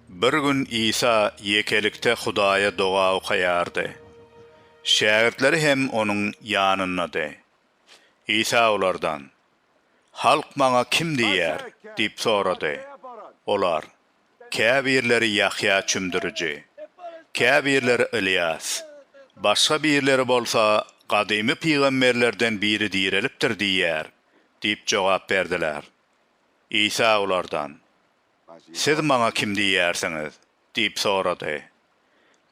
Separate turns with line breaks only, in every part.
Bir gün Isa ýekelikde Hudaýa doga okaýardy. Şägirtleri hem onuň ýanyndady. Isa olardan, Halk maňa kim diýýär? diýip sorady. Olar, Käbirleri Ýahýa Çümdüriji, käbirleri Ylýas, başga birleri bolsa gadymy pygamberlerden biri direlipdir diýýär diýip jogap berdiler. Isa olardan, Siz Maňa kim diýýärsiňiz? diýip sorady.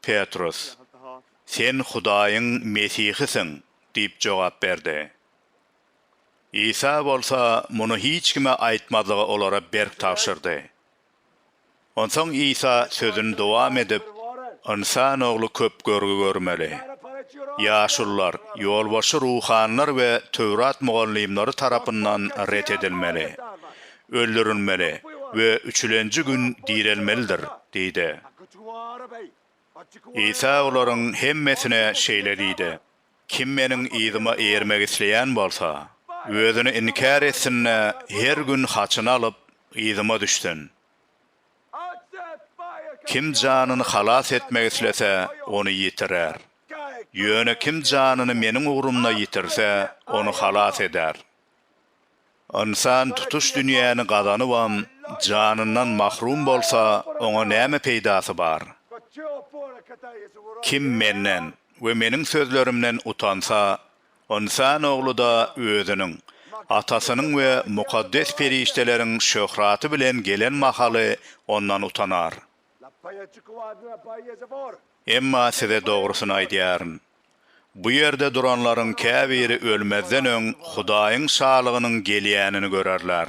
Petrus, Sen Hudaýyň Mesihisiň diýip jogap berdi. Isa bolsa muny hiç kime aýtmazlygy olara berk tabşyrdy. Onsoň Isa sözüni dowam edip, Ynsan Ogly köp görgi görmeli. Ýaşulular, ýolbaşçy ruhanylar we Töwrat mugallymlary tarapyndan ret edilmeli, öldürilmeli we üçülenji gün direlmelidir diýdi. Isa olaryň hemmesine şeýle diýdi. Kim Meniň yzyma eýermek isleýän bolsa, özüni inkär etsin-de, her gün haçyny alyp, yzyma düşsün. Kim janyny halas etmek islese, ony ýitirer. Ýöne kim janyny Meniň ugrumda ýitirse, ony halas eder. Ynsan tutuş dünýäni gazanybam, janyndan mahrum bolsa, oňa näme peýdasy bar? Kim menden we meniň sözlerimden utansa, Ynsan Ogly-da Özüniň, Atasynyň we mukaddes perişdeleriň şöhraty bilen gelen mahaly ondan utanar. Emma size dogrusyny aýdýaryn, bu ýerde duranlaryň käbiri ölmezden öň Hudaýyň Şalygynyň gelýänini görerler.